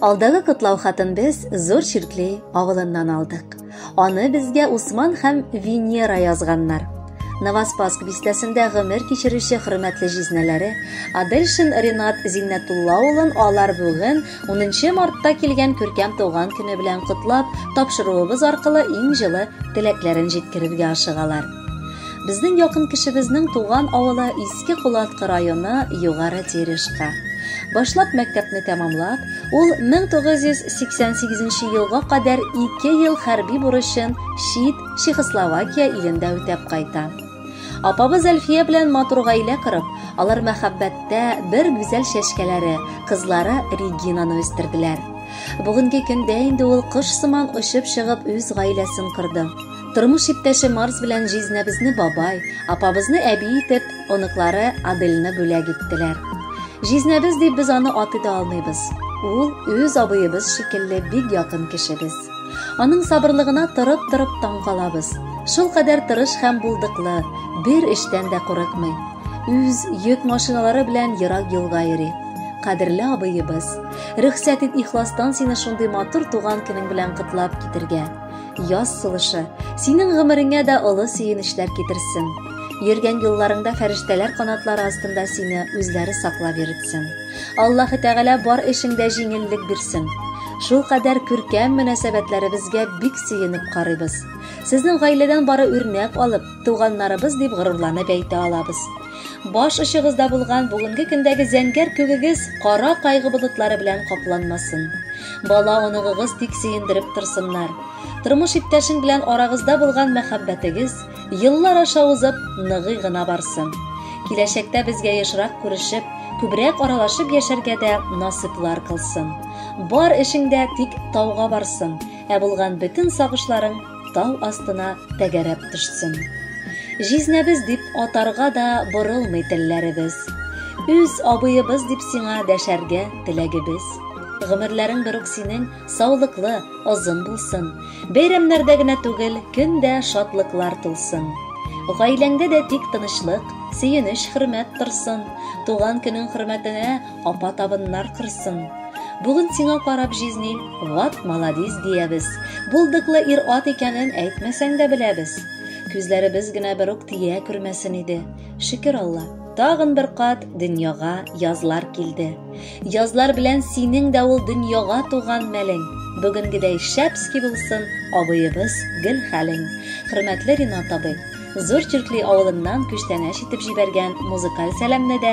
Алдагы котлау хатын без Зур Чиркли авылыннан алдык. Аны безгә Усман һәм Венера язганнар. Новоспаск бистәсендә гомер кичерүче хөрмәтле җизнәләре Адельшин Ренат Зиннәтулла улын алар бүген 10 мартта килгән күркәм туган көне белән котлап, тапшыруыбыз аркылы иң җылы теләкләрен җиткерергә ашыгалар. Безнең якын кешебезнең туган авылы Иске Кулаткы районы Югары Терешка. Башлап мәктәпне тәмамлап, ул 1988 елга кадәр ике ел хәрби бурычын чит Чехословакия илендә үтәп кайта. Апабыз Әлфия белән матур гаилә корып, алар мәхәббәттә бер гүзәл чәчкәләре, кызлары Регинаны үстерделәр. Бүгенге көндә инде ул кош сыман очып чыгып үз гаиләсен корды. Тормыш иптәше Марс белән җизнәбезне бабай, апабызны әби итеп, оныклары Адельны бүләк иттеләр. Җизнәбез дип без аны атый да алмыйбыз. Ул үз абыебыз шикелле бик якын кешебез. Аның сабырлыгына торып-торып таң калабыз. Шул кадәр тырыш һәм булдыклы, бер эштән дә курыкмый. Үз йөк машиналары белән ерак юлга йөри. Кадерле абыебыз, рөхсәт ит ихластан сине шундый матур туган көнең белән котлап китергә. Яз сулышы синең гомереңә дә олы сөенечләр китерсен. Йөргән юлларыңда фәрештәләр канатлары астында сине үзләре саклап йөртсен. Аллаһы Тәгалә бар эшеңдә җиңеллек бирсен. Шул кадәр күркәм мөнәсәбәтләребезгә бик сөенеп карыйбыз. Сезнең гаиләдән бары үрнәк алып, туганнарыбыз дип горурланып әйтә алабыз. Баш очыгызда булган бүгенге көндәге зәңгәр күгегез кара кайгы болытлары белән капланмасын. Бала оныгыгыз тик сөендереп торсыннар. Тормыш иптәшең белән арагызда булган мәхәббәтегез еллар аша узып ныгый гына барсын. Киләчәктә безгә ешрак күрешеп, күбрәк аралашып яшәргә дә насыйплар кылсын. Бар эшеңдә тик тауга барсын, ә булган бөтен сагышларың тау астына тәгәрәп төшсен. Җизнәбез дип атарга да борылмый телләребез. Үз абыебыз дип сиңа дәшәргә теләгебез. Гомерләрең берүк синең саулыклы, озын булсын. Бәйрәмнәрдә генә түгел, көн дә шатлыклар тулсын. Гаиләңдә дә тик тынычлык, сөенеч, хөрмәт торсын. Туган көнең хөрмәтенә Апа табыннар кырсын. Бүген сиңа карап җизни, ват маладис диябез. Булдыклы ир-ат икәнен әйтмәсәң дә беләбез. Күзләребез генә бер үк тия күрмәсен иде. Шөкер Алла, тагын бер кат дөньяга язлар килде. Язлар белән синең дә ул дөньяга туган мәлең. Бүгенгедәй шәпски булсын абыебыз гел хәлең. Хөрмәтле Ринат абый! Зур Чүркли авылыннан күчтәнәч итеп җибәргән музыкаль сәламне дә